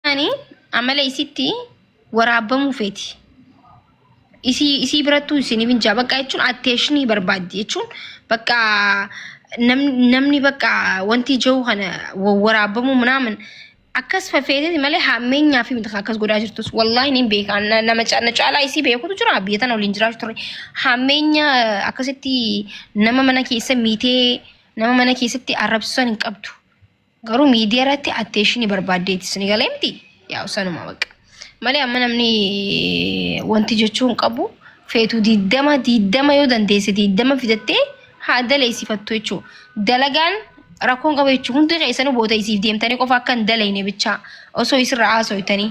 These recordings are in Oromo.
Ani amala isitti waraabamuu feeti. Isii isii birattuu isiniif hin jaa bakka jechuun atteeshinii barbaaddi jechuun bakka nam- namni bakka wanti jiru kana wa- waraabamuu minaamin akkas fafeeteti malee hammeenyaa fi miti kan akkas godhaa jirtus wallaahi niin beeka Na- nama ca- na caalaa isii beekutu jira biyya tana waliin jiraachuu turre hammeenya akkasitti nama mana keessa miitee nama mana keessatti arrabsisan hin qabdu. Garuu miidiyaa irratti atteeshinii barbaaddeeti suni galee miti yaa'u sanuma baqa. Malee amma namni wanti jechuu hin qabu feetu diddama diddama yoo dandeesse diddama fidattee haa daleessifattu jechuudha. Dalagaan rakkoon qabu jechuudha. Hundi keessanuu boota isiif deemtanii qofa akka hin dalayne bichaa osoo isirra haasoytanii.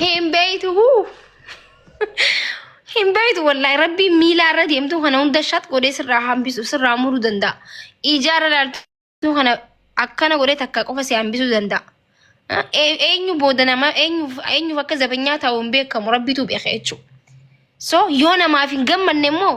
Hin beeytu huu. Hin beeytu wallahi rabbiin miilaa irra deemtu kana hunda shat godhee sirraa hambisu sirraa muru danda'a. Ijaarra laaltu kana akkana godhee takka qofa si hambisu danda'a. Eenyu booda nama eenyuuf akka zabanyaa ta'u hin beekamu rabbitu beeka jechuudha. So yoo namaaf hin gammanne immoo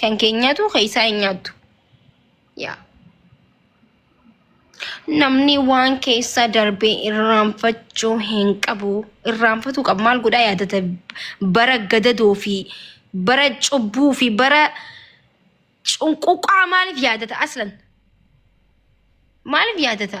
Kan keenyatu keessaa hin nyaattu. Yaa. Namni waan keessa darbee irraanfachuu hin qabu. Irraanfatuu qabu. Maal godhaa yaadata bara gadadoo fi bara cubbuu fi bara cunquqaa maaliif yaadata aslan? Maaliif yaadata?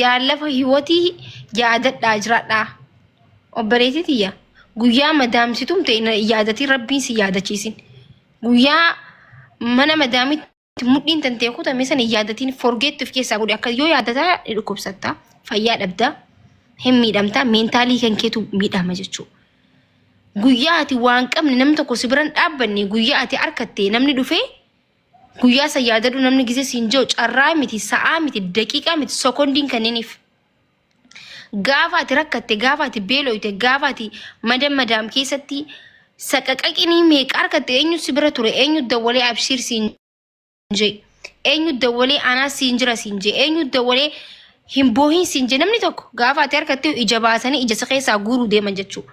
yaa lafa hiwatii yaadadhaa jiraadhaa obboleetii tiyya guyyaa madaamsitumte hin yaadatiin rabbiin si yaadachiisin guyyaa mana madaamitti mudhiin tantee kutame san hin yaadatiin forgeetti of keessaa godhe akka yoo yaadataa ni dhukkubsatta fayyaa dhabda hin miidhamta meentaalii kan keetu miidhama jechuu guyyaa ati waan qabne namni tokko si biran dhaabbanne guyyaa ati arkatte namni dhufee Guyyaa san yaadadhu namni gisee siin jiru carraa miti, sa'aa miti, daqiiqaa miti, sekondiin kanniiniif. Gaafa ati rakkatte, gaafa ati beeloyte, gaafa ati madam madaam keessatti saqaqaqinii meeqa argatte eenyu si bira ture, eenyu dawwalee abshiir siin jee, eenyu dawwalee anaa siin jira siin jee, eenyu dawwalee hin boohin siin jee namni tokko gaafa ati harkatte ija baasanii ija si keessaa guuruu deeman jechuudha.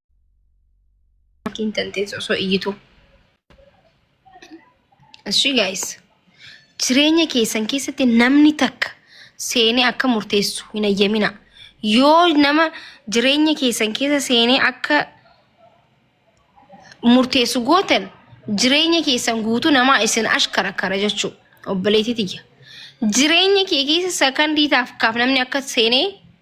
Maatiin tantees osoo iyyitu. Ashii gaayis. Jireenya keessan keessatti namni takka seenee akka murteessu hin ayyamina. Yoo nama jireenya keessan keessa seenee akka murteessu gootan jireenya keessan guutuu namaa isin ashkarakara jechuudha. Obboleettii tiyya. Jireenya kee keessa sakandii taaf kaaf namni akka seenee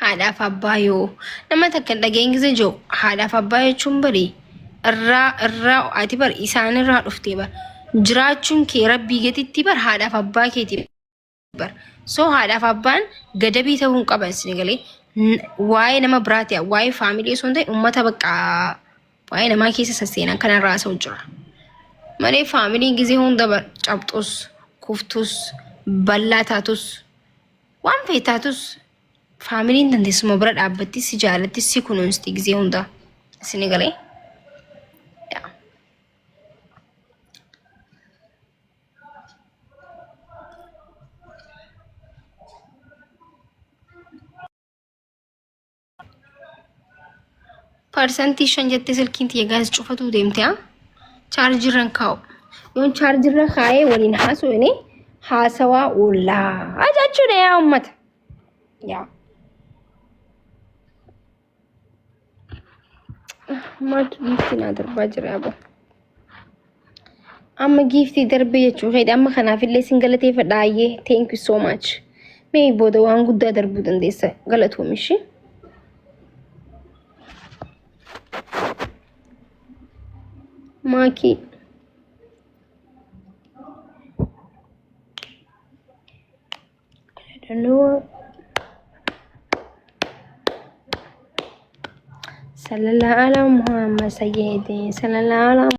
haadhaaf abbaa yoo nama takka hin dhageenye keessa jiru haadhaaf abbaa jechuun bari irraa irraa ati bar isaan irraa dhuftee bar jiraachuun kee rabbii gatitti bar haadhaaf abbaa keeti bar so haadhaaf abbaan gadabii ta'uu hin qaban isin galee waa'ee nama biraati waa'ee faamilii osoo hin ta'in uummata bakka waa'ee namaa keessa sasseenan kanarraa haasa'u jira malee faamiliin gizee hunda bar cabxus kuftus ballaa taatus waan fe'e taatus faamiliin dandeessuma bira dhaabbatti si jaalatti si kunuunsti gizee hunda isin galee. Parsantii shan jettee silkiin tiyya gaas cufatuu deemte haa chaarjirran kaa'u. Yoon chaarjirra kaa'ee waliin haasofne haasawaa oollaa jechuudha yaa uummata. Yaa. maaltu giiftii naa darbaa jira aboo. Amma giiftii darbee jechuu keedha. Amma kanaaf illee sin galateeffadha ayyee. Thank you so much. Mee booda waan guddaa darbuu dandeessa galatoomi ishee. Maakii. I don't know. Sallallahu ala Muhammad sayyidi. Sallallahu ala